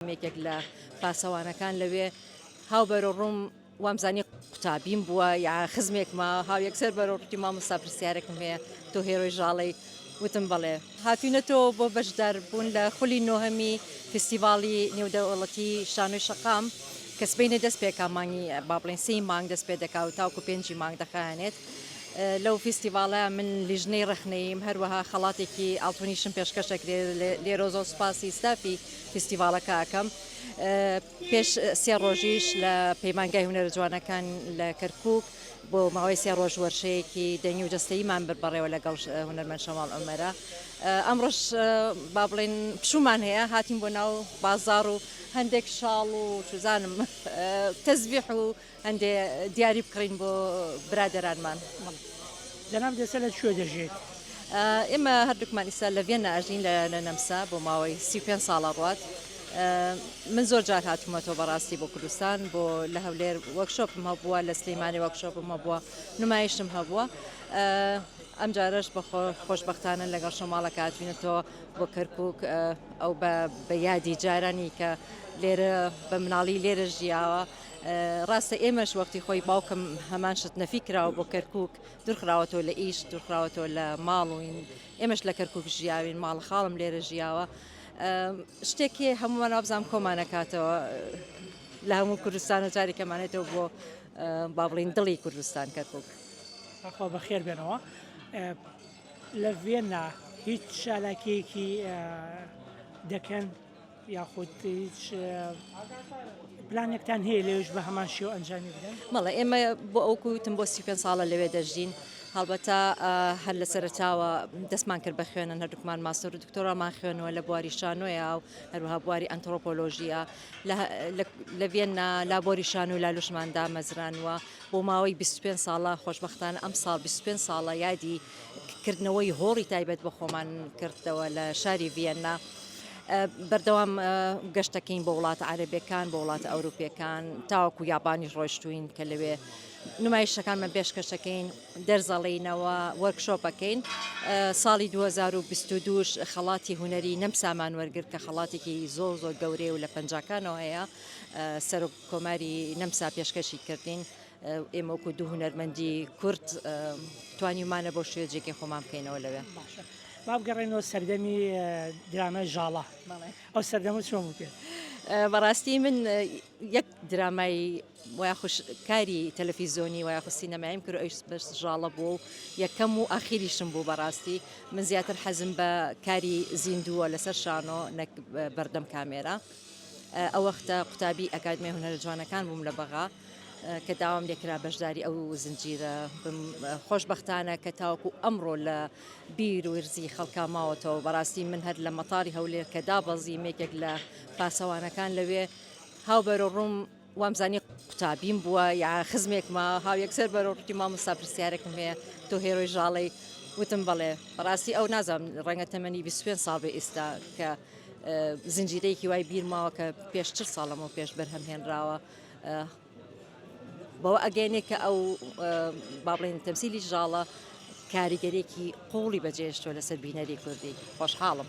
یەکێک لە پاسەوانەکان لەوێ هاو بەرە ڕووم وامزانی قوتابیم بووە یا خزمێکمە هاو یەکسەر بەرۆڕتی مامۆستا پرسیارێکم هەیە تۆ هێرۆی ژاڵی وتم بڵێ هاتوینەتەوە بۆ بەشدار بوون لە خولی نۆهەمی فستیڤاڵی نێودەوڵەتی شانۆی شەقام کە سبینە دەست پێکا مانگی با بڵین سی مانگ دەست پێ دەکا و تاوکو پێنجی مانگ دەخانێت لەو فیستیڤالە من لیژنەی ڕخنەیم هەروەها خەڵاتێکی ئاڵتونیشم پێشکەشەکرێ لێرۆزۆ سوپاسی ستافی فیستیڤاڵەکە ئەکەم پێش سێ ڕۆژیش لە پەیمانگای هونەرە جوانەکان لە کەرکک بۆ ماوەی سێ ڕۆژ وەرشەیەکی دەنگی و جەستەیمان بر بەڕێوە لەگەڵ هونەرمەند شەماڵ ئەمەرە ئەمڕۆش با بڵێن پشومان هەیە هاتیم بۆ ناو بازار و هەندێک شاڵ و چزانم تەزبیح و هەندێ دیاری بکڕین بۆ برادەرانمان. جەناب دێسە لە کوێ دەژێیت؟ ئێمە هەردووکمان ئیستا لە ڤێننا ئەژین لە لە نەمسا بۆ ماوەی سی و پێنج ساڵە ڕوات من زۆر جار هاتوومەتەوە بەڕاستی بۆ کوردستان بۆ لە هەولێر وەکشۆپم هەبووە لە سلەیمانی وەکشۆپم هەبووە نمایشتم هەبووە ئەم جارەش بە خۆشببختانە لەگەڵ شەماڵە کاتوینەتەوە بۆ کەرکک ئەو بە یادی جارانی کە لێرە بە مناڵی لێرە ژیاوە ڕاستە ئێمەش وەختی خۆی باوکم هەمان شت نەفی کراوە بۆ کەرکک دورخراوەتەوە لە ئیش دورخراوەتەوە لە ماڵوین ئێمەش لە کەرکک ژیاوین ماڵ خاڵم لێرە ژیاوە شتێکی هەمووان وابزانام کۆمانەکاتەوە لە هەموو کوردستان و جاری کەمانێتەوە بۆ با بڵین دڵی کوردستان کەرکک خۆ بەخێر بێنەوە لە ڤێننا هیچ چالاکیەکی دەکەن یاخود هیچ پلانێکتان هەیە لەوێش بە هەمان شێوە ئەنجامی بدەن؟ بەڵێ ئێمە بۆ ئەو کوتم بۆ سی پێنج ساڵە لەوێ دەژین هەڵبەتە هەر لە سەرتاوە دەستمان کرد بە خوێنن هەردووکمان ماستەر و دکتۆرامان خوێنەوە لە بواری شانۆیە و هەروها بواری ئەنتۆپۆلۆژیە لە ڤێننا لابۆری شان و لالوشمان دامەزرانوە بۆ ماوەی 25 ساڵە خۆشببختان ئەم ساڵ 25 ساڵە یادی کردنەوەی هۆڵی تایبەت بە خۆمان کردەوە لە شاری ڤێننا. بەردەوام گەشتەکەین بۆ وڵاتە عەرەبیەکان بۆ وڵاتە ئەوروپیەکان تاوەکو یابانیش ڕۆشتوین کە لەوێ نمایشەکانمە پێشکەشەکەین دەرزەڵینەوە وەرکشۆپەکەین ساڵی 2022 خەڵاتی هوەری نەم سامان وەرگرت کە خەڵاتێکی زۆر زۆر گەورەیە و لە پەنجکانەوە هەیە سەرۆک کۆماری نەمسا پێشکەشی کردین ئێمەکو دوو هوەرمەندی کورت توانیمانە بۆ شوێجێکی خۆمان بکەینەوە لەوێ. با بگەڕێنەوە سەردەمی درامای ژاڵە ئەو سەردەمە چۆن بوو پێت؟ بەڕاستی من یەک درامای وایخش کاری تەلەفیزۆنی وایخ سینەمایم کرد ئەوش بەس ژاڵە بوو و یەکەم و ئاخیریشم بوو بەڕاستی من زیاتر حەزم بە کاری زیندووە لەسەر شانۆ نەک بەردەم کامێرە ئەو وەختە قوتابی ئەکادمی هونەرە جوانەکان بووم لە بەغا کە داوام لێکرا بەشداری ئەو زنجیرە خۆشببختانە کە تاوەکو ئەمڕۆ لە بیر ورزی خەڵکا ماوەتەوە بەڕاستی من هەر لە مەتاری هەولێر کە دابەزیم یەکێک لە پاسەوانەکان لەوێ هاو بەرە ڕووم وامزانی قوتابیم بووە یا خزمێکمە هاو یەکسەر بەرە ڕووتی مامۆستا پرسیارێکم هەیە تۆ هێرۆی ژاڵی وتم بەڵێ ڕاستی ئەو نازم ڕەنگە تەمەنی 25 ساڵ بە ئێستا کە زنجیرەیەکی وای بیرماوە کە پێش چ ساڵەمەوە پێش بەرهەم هێنراوە بەوە ئەگەیەنێ کە ئەو با بڵێن تەمسیلی ژاڵە کاریگەرێکی قوڵی بەجێشتوە لەسەر بینەری کوردی خۆشحاڵم.